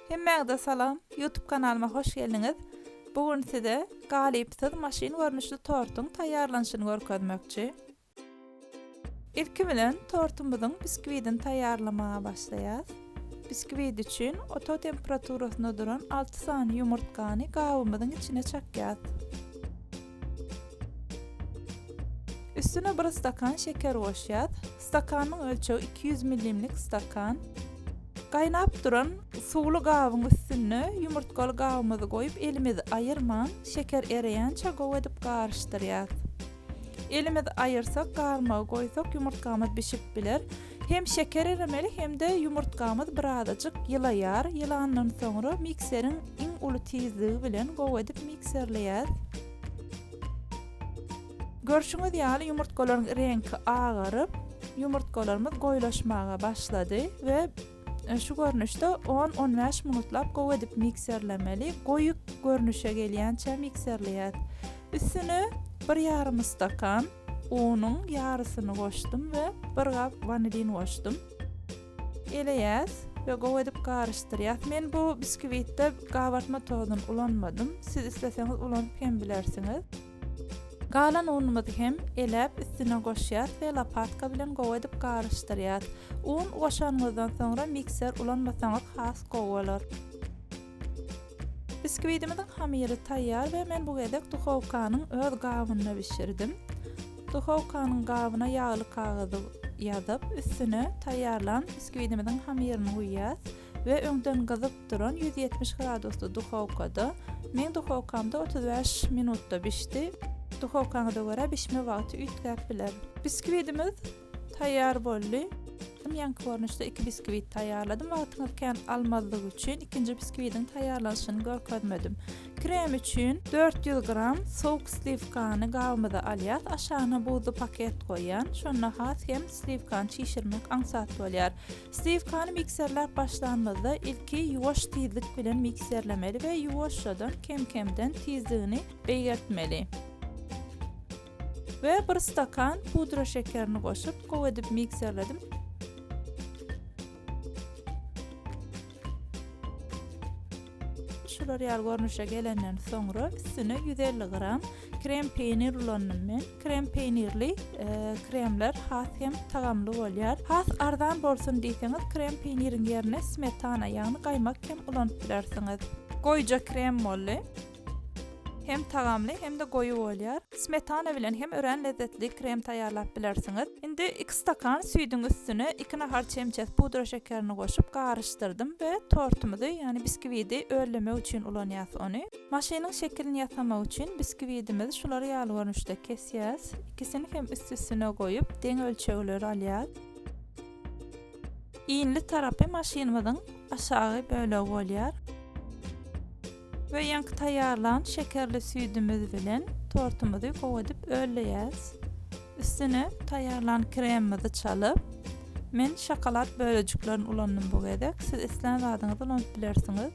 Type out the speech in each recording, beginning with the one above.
Hemmäňize salam YouTube kanalyma hoş geldiňiz. Bu gün size galypsyz maşyn görnüşli tortuň taýýarlanyşyny görkezmekçi. Ilki bilen tortumyzyň biskwidini taýýarlamaga başlaýas. Biskwit üçin oto temperaturasynda duran alty sany ýumurtgany gabymyzyň içine çakýas. Üstüne bir stakan şeker goşýas. Stakanyň ölçegi 200 millimlik stakan. Gaýnap duran suwly gabyň üstüne ýumurtgaly gabymyzy goýup, elimizi aýyrman, şeker ereýänçä gowy edip garyşdyrýas. Elimizi aýyrsak, garmagy goýsak, ýumurtgamyz bişip biler. Hem şeker eremeli hem-de ýumurtgamyz birazajyk ýylaýar, ýylandan soňra mikseriň iň uly tizligi bilen gowy edip mikserleýäs. Görşüňiz ýaly ýumurtgalaryň reňki agaryp, ýumurtgalarymyz goýulaşmaga başlady we şu görnüşde on, on bäş minutlap gowy edip mikserlemeli, goýy görnüşe gelýänçä mikserleýäs. Üstüne bir ýarym stakan unuň ýarysyny goşdum we bir gap wanilin goşdum. Eleýäs we gowy edip garyşdyrýas. Men bu biskwitte gabartma tozuny ulanmadym. Siz isleseňiz ulanyp hem bilersiňiz. Galan unumyzy hem eläp üstüne goşýas we lopatka bilen gowy edip garyşdyrýas. Un goşanyňyzdan soňra mikser ulanmasaňyz has gowy bolar. Biskwidimiziň hamyry taýýar we men bu gezek duhowkanyň öz gabynda bişirdim. Duhowkanyň gabyna ýagly kagyzy ýazyp, üstüne taýýarlan biskwidimiziň hamyryny guýýas we öňden gyzyp duran ýüz ýetmiş gradusly duhowkada, meň duhowkamda otuz bäş minutda bişdi, duhowkaňyza görä bişme wagty üýtgäp biler. Biskwidimiz Taýýar boldy. Hem ýaňky görnüşde iki biskwit taýýarladym. Wagtyňyz kän almazlygy üçin ikinji biskwidiň taýýarlanyşyny görkezmedim. Krem üçin 400 gram sowuk sliwkany gabymyza alýas. Aşagyna buzly paket goýýan. Şonda has hem sliwkany çişirmek aňsat bolýar. Sliwkany mikserläp başlanymyzda ilki ýuwaş tizlik bilen mikserlemeli we ýuwaşjadan kem-kemden tizligini beýgeltmeli. We bir stakan pudra şekerini goşup gowy edip mikserledim. Şular ýaly görnüşe gelenden soňra üstüne 150 gram krem peýnir ulandym men. Krem peýnirli e, kremler has hem tagamly bolýar. Has arzan bolsun diýseňiz, krem peýniriň ýerine smetana, ýagny gaýmak hem ulanyp bilersiňiz. Goýja krem boldy. Hem tagamly hem-de goýy bolýar. Smetana bilen hem örän lezzetli krem taýýarlap bilersiňiz. Indi iki stakan süýdüň üstüne iki nahar çemçesi pudra şekerini goşup garyşdyrdym we tortumyzy, ýagny biskiwidi öllemek üçin ulanýas ony. Maşynyň şekilini ýasamak üçin biskiwidimizi şular ýaly görnüşde kesýäs. Ikisini hem üst-üstüne goýup, deň ölçegleri alýas. Inli tarapy maşynymyzyň aşagy bölegi bolýar. We ýaňky taýýarlan şekerli süýdümiz bilen tortumyzy gowy edip ölleýäs. Üstüne taýýarlan kremimizi çalyp, men şokolad bölejiklerini ulandym bu gezek, siz islän zadyňyzy ulanyp bilersiňiz.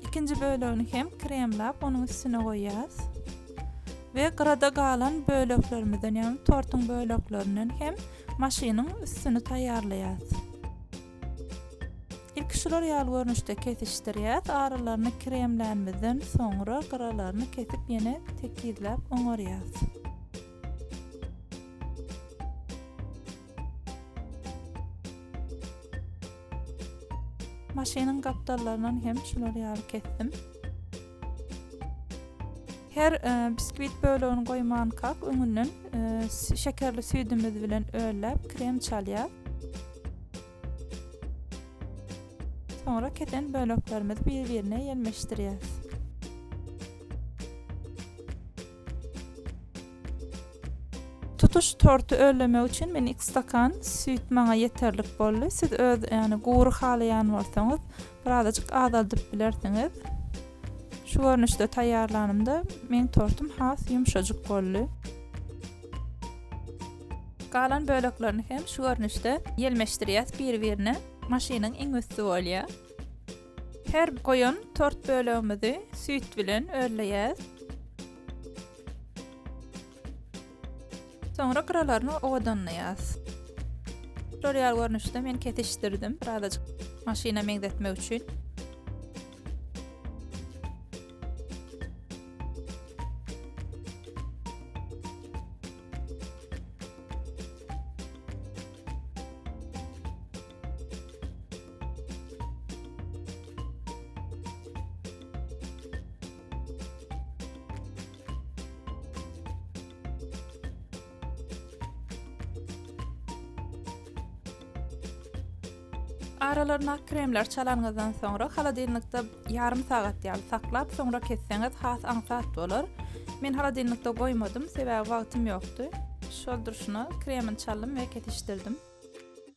Ikinji bölegini hem kremlap onuň üstüne goýýas. We gyrada galan böleklerimizden, ýagny tortuň böleklerinden hem maşynyň üstüni taýýarlaýas. Ilki şular ýaly görnüşde kesişdirýäs, aralaryny kremlänimizden soňra gyralaryny kesip ýene tekizläp oňarýas. Maşynyň gapdallaryndan hem şular ýaly kesdim. Her e, biskwit bölegini goýmankak öňünden e, şekerli süýdümiz bilen ölläp krem çalýar. Soňra kesen böleklerimizi bir-birine ýelmeşdirýäris. Tutuş torty örlemek üçin men iki stakan süýt maňa ýeterlik boldy. Siz öz ýany gury halaýan bolsaňyz, birazajyk azaldyp bilersiňiz. Şu görnüşde taýýarlanymda meň tortum has ýumşajyk boldy. Galan böleklerini hem şu görnüşde ýelmeşdirýäs bir-birine. Maşynyň iň üsti bolýar. Her goýan tort bölegimizi süýt bilen örleýäs. Soňra gyralaryny owadanlaýas. Tutorial görnüşde men kesişdirdim, birazajyk maşyna meňzetmek üçin. Aralaryna kremler çalanyňyzdan soňra holodilnikde ýarym sagat ýaly saklap, soňra kesseňiz has aňsat bolar. Men holodilnikde goýmadym, sebäbi wagtym ýokdy. Şol durşuna kremini çaldym we kesişdirdim.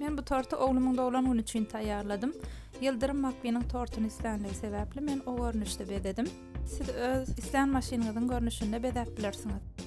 Men bu torty oglumyň doglan güni üçin taýýarladym. Ýyldyrym McQueen-iň tortuny islänligi sebäpli men o görnüşde bezedim. Siz öz islän maşynyňyzyň görnüşinde bezäp bilersiňiz.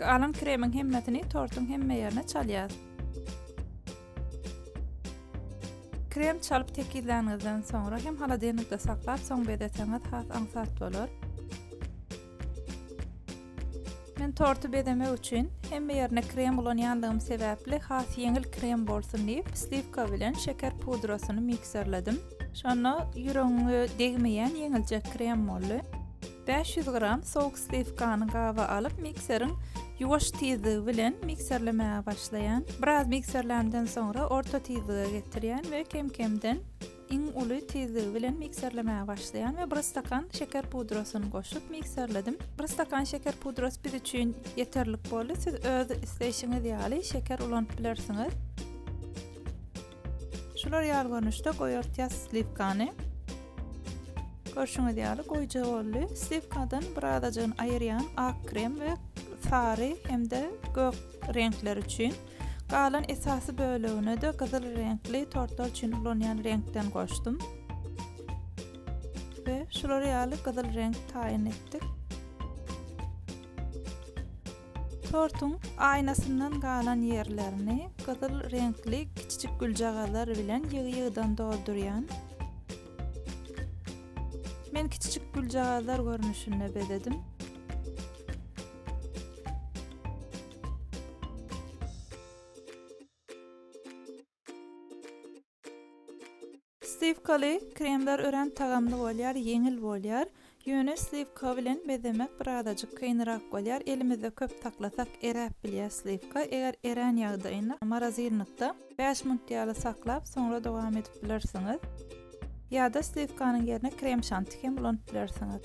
Galan kremiň hemmesini tortuň hemme ýerine çalýas. Krem çalyp tekizlänizden soňra hem haladenlikde saklap soň bezeseňiz has aňsat bolar. Men torty bezemek üçin hemme ýerine krem ulanýandygym sebäpli has ýeňil krem bolsun diýip sliwka bilen şeker pudrasyny mikserledim. Şonda ýüregiňe degmeýän ýeňiljek krem boldy. 500 gram sowuk sliwkany gaba alyp mikseriň ýuwaş tizligi bilen mikserlemäge başlaýan. Biraz mikserlämden soňra orta tizlige getirýän we kem-kemden iň uly tizligi bilen mikserlemäge başlaýan we bir stakan şeker pudrasyny goşup mikserledim. Bir stakan şeker pudrasy biz üçin ýeterlik boldy. Siz öz isleýşiňiz ýaly şeker ulanyp bilersiňiz. Şular ýaly görnüşde goýartýas sliwkany. Görşüňiz ýaly goýja boldy. Sliwkadan bir azajygyny aýyrýan ak krem we sary hem-de gök reňkler üçin. Galan esasy bölegine-de gyzyl reňkli tortlar üçin ulanýan reňkden goşdum. We şulary ýaly gyzyl reňk taýyn etdik. Tortuň aýnasyndan galan ýerlerini gyzyl reňkli kiçijik güljagazlar bilen ýygy-ýygydan doldurýan. Men kiçijik güljagazlar görnüşinde bezedim. Sliwkaly kremler örän tagamly bolýar, ýeňil bolýar. Ýöne sliwka bilen bezemek bir azajyk kynrak bolýar. Elimizde köp saklasak eräp bilýär sliwka. Eger erän ýagdaýynda morozilnikda bäş minut ýaly saklap, soňra dowam edip bilersiňiz. Ýa-da sliwkanyň ýerine krem-şanti hem ulanyp bilersiňiz.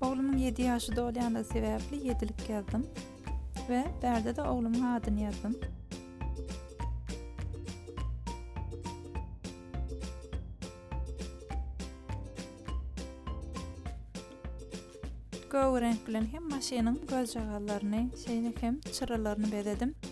Oglumyň ýedi ýaşy dolýandygy sebäpli ýedilik ýazdym we bärde-de oglumyň adyny ýazdym. Gögreňk bilen hem maşynyň gözjagazlaryny, şeýle hem çyralaryny bezedim.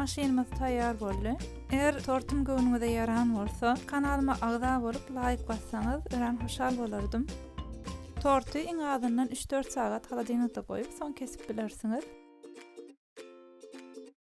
Maşynymyz taýýar boldy. Eger tortum göwnüňize ýaran bolsa, kanalyma agza bolup, laýk bassaňyz, örän hoşal bolardym. Torty iň azyndan üç-dört sagat holodilnikde goýup, soň kesip bilersiňiz.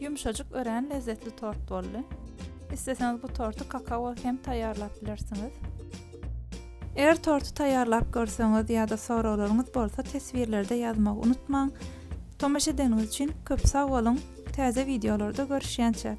Ýumşajyk örän lezzetli tort boldy. Isleseňiz bu torty kakaoly hem taýýarlap bilersiňiz. Eger torty taýýarlap görseňiz ýa-da soraglaryňyz bolsa teswirlerde ýazmagy unutmaň. Tomaşa edeniňiz üçin köp sag boluň, täze wideolarda görüşýänçäk!